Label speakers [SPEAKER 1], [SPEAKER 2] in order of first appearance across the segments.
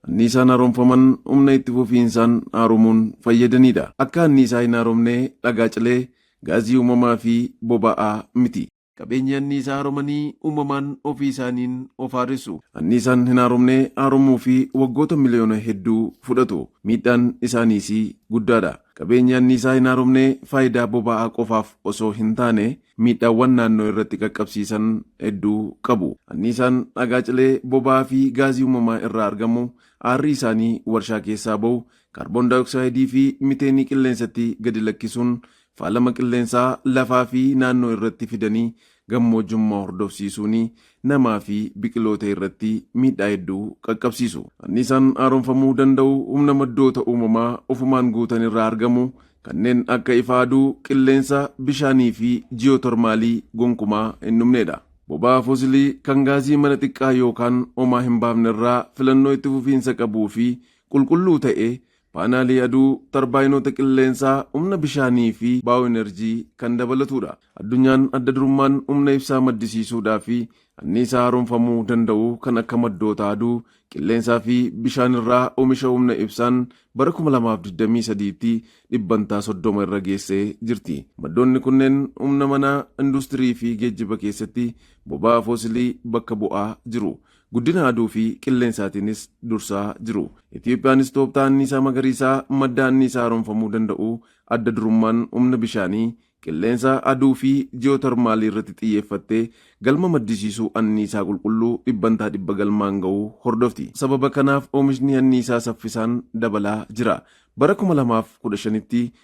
[SPEAKER 1] anniisaan haaromfaman humna itti fufiinsaan haarumuun fayyadaniidha. Akka anniisaa hin haaromne dhagaa cilee, gaazii uumamaa fi boba'aa miti. Qabeenya anniisaa haaromanii uumamaan ofii isaaniin of haaressu. Anniisaan hin haaromne haaromuu fi waggoota miliyoona hedduu fudhatu. Miidhaan isaaniis guddaadha. Qabeenyi anniisaa hin haaromne faayidaa boba'aa qofaaf osoo hin taane miidhaawwan naannoo irratti qaqqabsiisan hedduu qabu. Anniisaan dhagaa cilee, boba'aa fi gaazii uumamaa irraa argamu aarrii isaanii warshaa keessaa ba'u kaarboondaayooksaayidii fi miteenii qilleensatti gadi lakkisuun Faalama qilleensaa lafaa fi naannoo irratti fidanii gammoojummaa hordofsiisuun namaa fi biqiloota irratti miidhaa hedduu qaqqabsiisu. Anniisaan haaromfamuu danda'u humna maddoota uumamaa ofumaan guutan irraa argamu kanneen akka ifa aduu, qilleensa, bishaanii fi ji'ootermaalii gonkumaa hin dhumne dha. Boba'aa fosilii kan gaazii mana xiqqaa yookaan homaa hin baafne irraa filannoo itti fufiinsa qabuu fi qulqulluu ta'e Paanaalii aduu, tarbaayinoota qilleensaa, humna bishaanii fi baayooenerjii kan dabalatudha. Addunyaan adda durummaan humna ibsaa maddisiisuudhaa fi anniisaa haaromfamuu danda'u kan akka maddoota aduu, qilleensaa fi bishaan irraa omisha humna ibsaan bara 2023tti dhibbantaa 30 irra geessee jirti. Maddoonni kunneen humna manaa, industirii fi geejjiba keessatti boba'aa foosilii bakka bu'aa jiru. Guddina aduu fi qilleensaatiinis dursaa jiru. Itiyoophiyaanis tooftaa anniisaa magariisaa madda anniisaa haaromfamuu danda'u, adda durummaan humna bishaanii, qilleensa, aduu fi ji'ootarmaalii irratti xiyyeeffattee galma maddisiisuu anniisaa qulqulluu dhibbantaa dhibba galmaan ga'uu hordofti. Sababa kanaaf oomishni anniisaa saffisaan dabalaa jira. Bara kuma lamaa fi kudha shanitti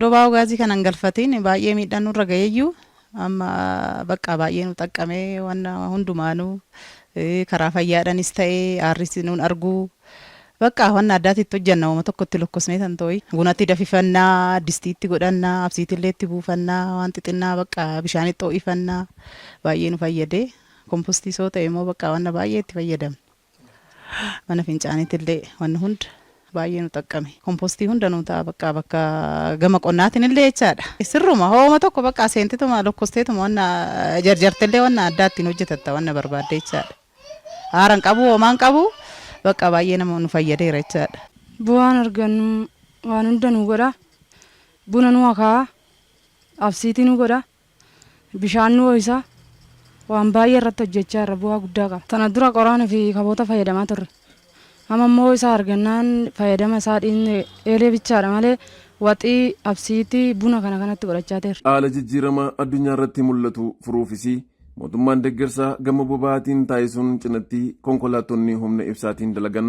[SPEAKER 1] Dobaa'oo gaazii kana
[SPEAKER 2] hin galfatiin baay'ee miidhaan nurra ga'eeyyuu amma baqqaa baay'ee nu xaqqamee wanna hundumaanuu karaa fayyaadhanis ta'ee aarris nuun arguu baqqaa wanna addaatti itti hojjanna wama tokko itti lokkosnee tantooyi bunatti dafifannaa distiitti godhannaa absiitillee itti buufannaa waan xixinnaa baqqaa bishaanitti ho'ifannaa baay'ee nu fayyadee kompostii soo ta'e immoo baqqaa wanna baay'ee itti fayyadamna. Mana fincaaniitillee wanni hunda baay'ee nu xaqqame. Kompostii hunda nuu ta'a baqqaa bakka gama qonnaatinillee jechaadha. Sirruma hooma tokko baqqaa seentituma lokkosteetuma wanna jarjartellee wanna addaa ittiin hojjetatta wanna barbaadde jechaadha. Haara hin qabu hoomaa hin qabu baqqaa baay'ee nama nu fayyadeera jechaadha. Bu'aan argannu
[SPEAKER 3] waan hunda nuu godha. Buna nuu akaa'a. Absiitii nuu godha. Bishaan nu ho'isa. Waan baay'ee irratti hojjechaa irra bu'aa guddaa qaba. Tana dura qoraan fi kaboota fayyadamaa turre. Amma immoo isaa argannaan fayyadama isaa dhiisne eelee bichaadha malee waxii, absiitii, buna kana kanatti godhachaa teerra. Haala jijjiirama
[SPEAKER 1] addunyaa irratti mul'atu furuufis mootummaan deggersa gama boba'aatiin taasisuun cinatti konkolaattonni humna ibsaatiin dalagan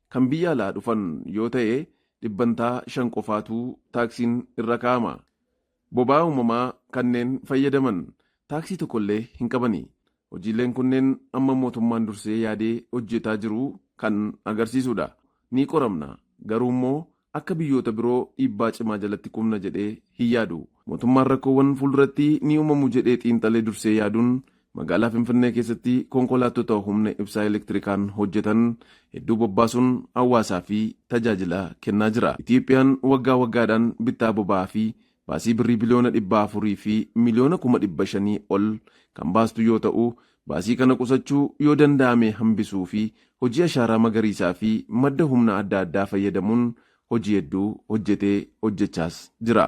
[SPEAKER 1] Kan biyya alaa dhufan yoo ta'e dhibbantaa shan qofaatu taaksiin irra kaa'ama. Boba'aa uumamaa kanneen fayyadaman taaksii tokkollee hin qabani. Hojiileen kunneen amma mootummaan dursee yaadee hojjetaa jiru kan agarsiisudha. Ni qoramna. Garuummoo Akka biyyoota biroo dhiibbaa cimaa jalatti kufna jedhee hin yaadu. Mootummaan rakkoowwan fuulduratti ni uumamu jedhee xiinxalee dursee yaaduun magaalaa Finfinnee keessatti konkolaattota humna ibsaa elektirikaan hojjetan hedduu bobbaasuun hawaasaa fi tajaajila kennaa jira. Itiyoophiyaan waggaa waggaadhaan bittaa boba'aa fi baasii birrii biliyoona dhibba afurii fi miliyoona kuma dhibba shanii ol kan baastu yoo ta'u, baasii kana qusachuu, yoo danda'ame hambisuu fi hojii ashaaraa magariisaa fi madda humna adda addaa fayyadamuun hojii hedduu hojjetee, hojjechaas jira.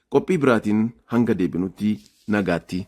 [SPEAKER 1] Qophii biraatiin hanga deebinutti nagaatti.